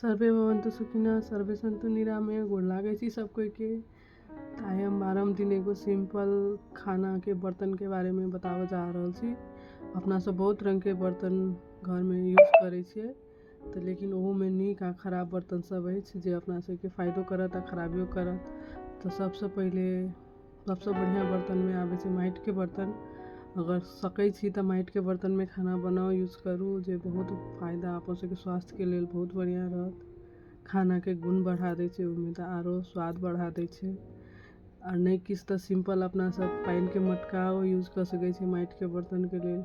survey भवन्तु सुखिनः सर्वे सन्तु निरामय गोड़ लागै छी सब कोई के आइ हम बारहम दिन एगो सिंपल खाना के बर्तन के बारे में बताबऽ जा रहल छी अपना सब बहुत रंग के बर्तन घर में यूज करै छियै तऽ लेकिन ओहू में नीक आ खराब बर्तन सब अछि जे अपना सबके फायदो करत आ खराबियो करत तऽ सबसँ पहिले सबसँ बढ़िआँ बर्तनमे आबै छै माटिके बर्तन अगर सकै छी तऽ माटिके बर्तनमे खाना बनाउ यूज करू जे बहुत फायदा अपन सबके स्वास्थ्यके लेल बहुत बढ़िआँ रहत खानाके गुण बढ़ा दै छै ओहिमे तऽ आरो स्वाद बढ़ा दै छै आओर नहि किछु तऽ सिम्पल अपना सब पानिके मटकाओ यूज कऽ सकै छी माटिके बर्तनके लेल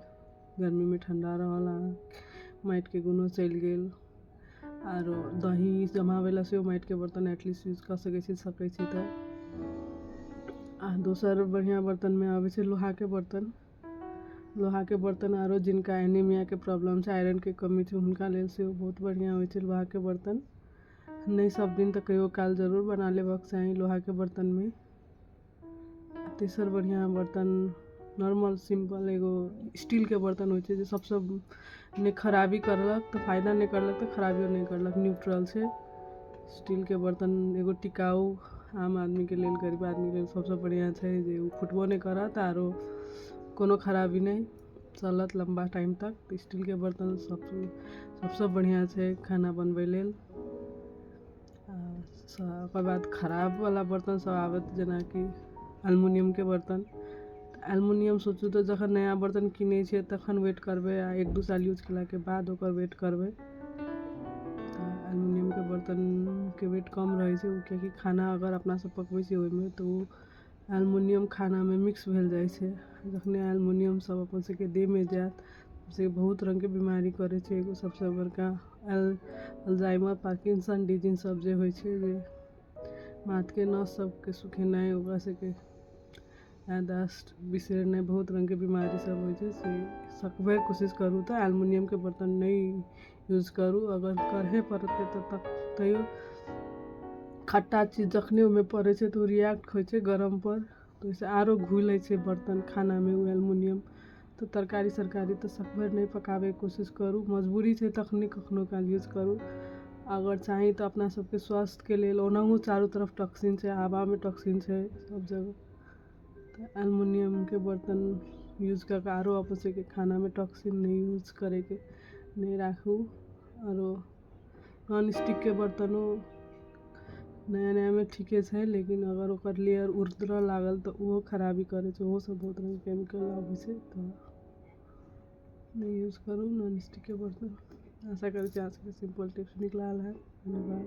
गर्मीमे ठण्डा रहल अहाँके माटिके गुनो चलि गेल आरो दही जमाबै लए सेहो माटिके बर्तन एटलीस्ट यूज कऽ सकै छी सकै छी तऽ आ दोसर बढ़िआँ बर्तनमे अबै छै लोहाके बर्तन लोहाके बर्तन आरो जिनका एनीमियाके प्रॉब्लम छै आयरनके कमी छै हुनका लेल सेहो बहुत बढ़िआँ होइ छै लोहाके बर्तन नहि सभ दिन तऽ कहियो काल जरूर बना लेबक चाही लोहाके बर्तनमे आ तेसर बढ़िआँ बर्तन नॉर्मल सिम्पल एगो स्टीलके बर्तन होइ छै जे सभसँ नहि खराबी करलक तऽ फायदा नहि करलक तऽ खराबियो नहि करलक न्यूट्रल छै स्टीलके बर्तन एगो टिकाउ आम आदमीके लेल गरीब आदमीके लेल सभसँ बढ़िआँ छै जे ओ फुटबो नहि करत आरो कोनो खराबी नहि चलत लम्बा टाइम तक तऽ स्टीलके बर्तन सभ सभसँ बढ़िआँ छै खाना बनबै लेल ओकर बाद खराब बला बर्तन सभ आबत जेनाकि अलमुनियमके बर्तन अलमुनियम सोचू तऽ जखन नया बर्तन किनै छियै तखन वेट करबै आ एक दू साल यूज केलाके बाद ओकर वेट करबै अलमुनियमके बर्तनके वेट कम रहै छै किएकि खाना अगर अपना सभ पकबै छियै ओहिमे तऽ ओ एल्युमिनियम खानामे मिक्स भेल जाइ छै जखने एल्युमिनियम सब अपन सबके देहमे जायत से बहुत रङ्गके बीमारी करै छै एगो सबसँ बड़का अल्जाइमर पार्किंसन डिजीज सब जे होइ छै जे माथके नस सबके सुखेनाइ ओकरा सबके याददाश्त बिसरनाइ बहुत रङ्गके बीमारी सब होइ छै से सकबैके कोशिश करू तऽ एल्युमिनियमके बर्तन नहि यूज करू अगर करहे पड़तै तऽ तब तैयो खट्टा चीज जखने ओहिमे पड़ै छै तऽ ओ रिएक्ट होइ छै गरमपर तऽ ओहिसँ आरो घुलै छै बर्तन खानामे ओ एल्युमिनियम तऽ तरकारी सरकारी तऽ सकभरि नहि पकाबैके कोशिश करू मजबूरी छै तखने कखनो काल यूज करू अगर चाही तऽ अपना सबके स्वास्थ्यके लेल ओनाहु चारू तरफ टॉक्सिन छै हवामे टॉक्सिन छै सब जगह तऽ एल्युमिनियमके बर्तन यूज कऽ कऽ आरो अपन सबके खानामे टॉक्सिन नहि यूज करैके नहि राखू आरो नॉन स्टिकके बर्तनो नया नयामे ठीके छै लेकिन अगर ओकर लेयर उतरऽ लागल तऽ ओहो खराबी करै छै ओहो सब बहुत रङ्गके केमिकल आबै छै तऽ नहि यूज करू नॉन स्टिकके बर्तन आशा करै छी अहाँ सबके सिम्पल टिप्स नीक लागल होयत धन्यवाद